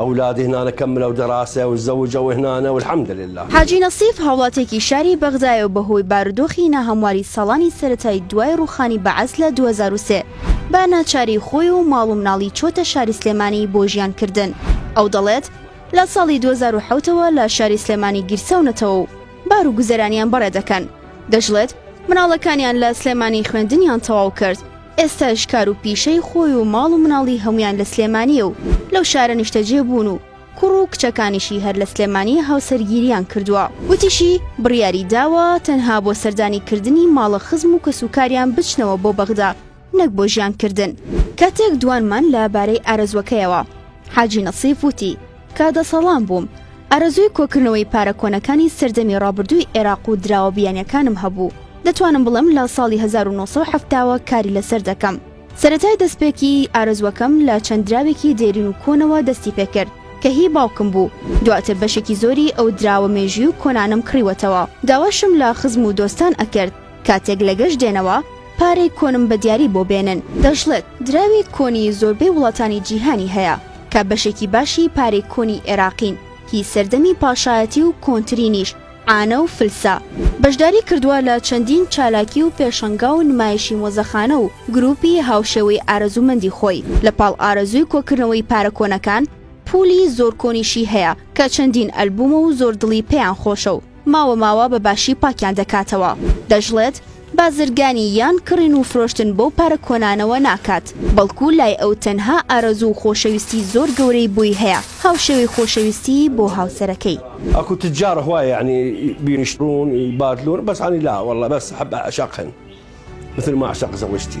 ئەولادی هنانە کە ملەو دەراسە و زەوجە و هنانە الحمد للە. حاجی نەسیف هاوڵاتیەکی شاری بەغدایە و بەهۆی بارودۆخی ناهەمواری ساڵانی سەرەتای دوای ڕووخانی بەعس لە دوو هەزار و سێ بە ناچاری خۆی و ماڵ و مناڵی چۆتە شاری سلێمانی بۆ ژیان کردن، ئەو دەڵێت لە ساڵی دوو هەزار و حەوت ەوە لە شاری سلێمانی گیرساونەتەوە و بار و گوزەرانیان بەڕێ دەکەن، دەشڵێت مناڵەکانیان لە سلێمانی خوێندنیان تەواو کرد ئێستاش کار و پیشەی خۆی و ماڵ و مناڵی هەموویان لە سلێمانییە و لەو شارە نیشتەجێ بوون و کوڕ و کچەکانیشی هەر لە سلێمانییە هاوسەرگیرییان کردووە. وتیشی، بڕیاری داوە تەنها بۆ سەردانی کردنی ماڵە خزم و کەسوکاریان بچنەوە بۆ بەغدا نەک بۆ ژیان کردن. کاتێک دوانمان لە بارەی ئارەزووەکەیەوە، حاجی نەسیف وتی، کە دەسەڵام بووم، ئارەزووی کۆکردنەوەی پارە کۆنەکانی سەردەمی ڕابردووی عێراق و دراوە بیانیەکانم هەبوو، دەتوانم بڵێم لە ساڵی هەزار و نۆ سەد و حەفتا وە کاری لەسەر دەکەم. سەرەتای دەستپێکی ئارەزووەکەم لە چەند دراوێکی دێرین و کۆنەوە دەستی پێکرد کە هی باوکم بوو، دواتر بەشێکی زۆری ئەو دراوە مێژووی و کۆنانەم کڕیوەتەوە، داواشم لە خزم و دۆستان ئەکرد، کاتێک لە گەشت دێنەوە پارەی کۆنم بە دیاری بۆ بێنن. دەشڵێت، دراوی کۆنی زۆربەی وڵاتانی جیهانی هەیە، کە بەشێکی باشی پارەی کۆنی ئێراقین، هی سەردەمی پاشایەتی و کۆنترینیش عانە و فلسە. بەشداری کردووە لە چەندین چالاکی و پێشەنگا و نمایشی مۆزەخانە و گرووپی هاوشێوەی ئارەزوومەندی خۆی. لە پاڵ ئارەزووی کۆکردنەوەی پارە کۆنەکان، پوولی زۆر کۆنیشی هەیە، کە چەندین ئەلبوومە و زۆر دڵی پێیان خۆشە و، ماوە ماوە بە باشی پاکیان دەکاتەوە. دەشڵێت، بازرگانی یان کڕین و فرۆشتن بەو پارە کۆنانەوە ناکات، بەڵکو لای ئەو تەنها ئارەزوو و خۆشەویستی زۆر گەورەی بۆی هەیە، هاوشێوەی خۆشەویستیی بۆ هاوسەرەکەی. ئەکو تجار هو یعنی بيشترون يبادلون بس انا لا والله بس احب اعشقهن مثل ما اعشق زوجتي.